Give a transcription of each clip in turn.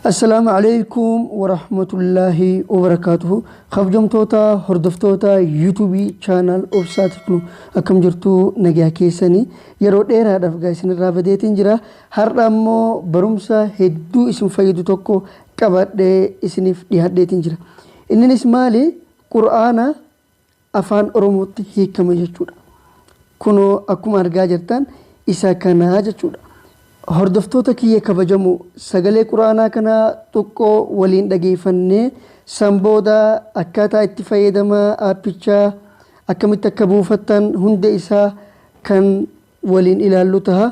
Assalaamu alaikum warahmatullaahi wabarakaatuhu kabjamtoota hordoftoota yuutuubii chaanaal obsaa tiknu akkam jirtuu nagaa keessanii yeroo dheeraadhaaf gaa isinirraa badeetiin jira har'a ammoo barumsa hedduu isin fayyadu tokko qabadhee isiniif dhiyaadheetiin jira inninis maali qur'aana Afaan Oromootti hiikame jechuudha. Kunoo akkuma argaa jirtan isa kana jechuudha. Hordoftoota kiyya kabajamoo sagalee Qur'aanaa kana xuqqoo waliin dhageeffannee san booda akkaataa itti fayyadama aappichaa akkamitti akka buufattan hunda isaa kan waliin ilaallu taha.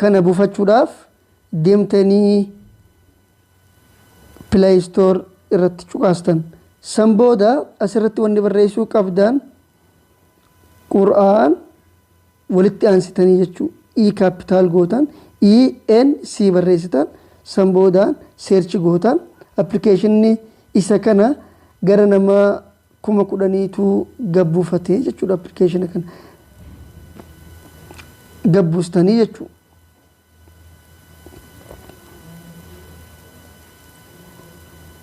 kana bufachuudhaaf deemtanii play store irratti cuqaastan san booda asirratti wanni barreessuu qabdan qur'aan walitti aansitanii jechuu i capital gootan i n c barreessitan san boodaan seerchi gootan appilikeeshinni isa kana gara nama kuma kudhaniitu gad buufate jechuudha application kana gad buustanii jechuu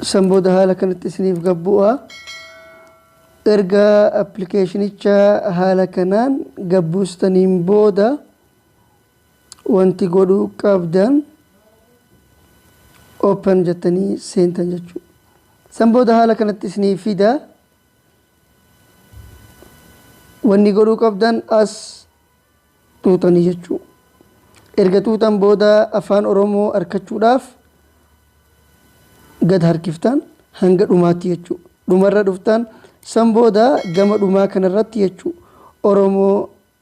san booda haala kanatti isiniif gad bu'a erga appilikeeshinicha haala kanaan gad buustaniin booda Wanti godhuu qabdan open jettanii seentan jechuudha. San booda haala kanatti isinii fida. Wanni godhuu qabdan as xuuxanii jechuu. Erga xuuxan booda afaan Oromoo arkachuudhaaf gad harkiftan hanga dhumaatti jechuu. Dhumarra dhuftan san booda gama dhumaa kanarratti jechuu Oromoo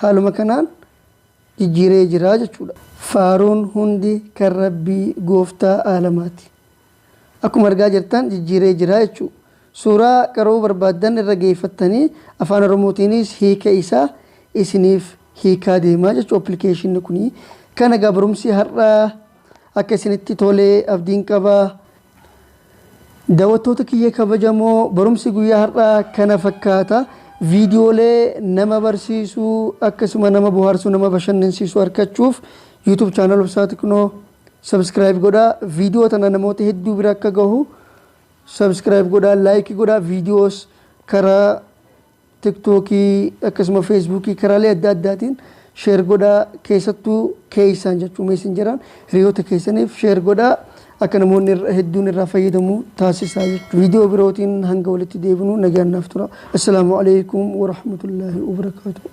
Haaluma kanaan jijjiiree jira jechuudha. Faaruun hundi kan Rabbii Gooftaa Aalamaati. Akkuma argaa jirtan jijjiiree jira jechuu. Suuraa qara'uu barbaaddan irra geeffattanii Afaan Oromootiinis hiika isaa isiniif hiikaa deema jechuu appilikeeshinni kuni. Kana egaa barumsi har'aa akka isinitti tole abdiin qaba. Dawattoota kiyya kabajamoo barumsi guyyaa har'aa kana fakkaata. Viidiyoolee nama barsiisu akkasuma nama bohaarsu nama bashannansiisu arkachuuf YouTube channel Obsaa Tiknoo subscribe godhaa. Viidiyoo tana namoota hedduu bira akka gahu subscribe godhaa, like godhaa. Viidiyoos karaa Tiktookii akkasuma Feesbuukii karaalee adda addaatiin share godhaa keessattuu keessaan jechuu meessenjeraan hiriyoota keessaniif share godhaa akka namoonni hedduun irraa fayyadamu taasisaa jechuudha. Viidiyoo birootiin hanga walitti deebinu nagaan naaf tura. Assalaamu alaikum warahmatullaahi wabarakaatuh.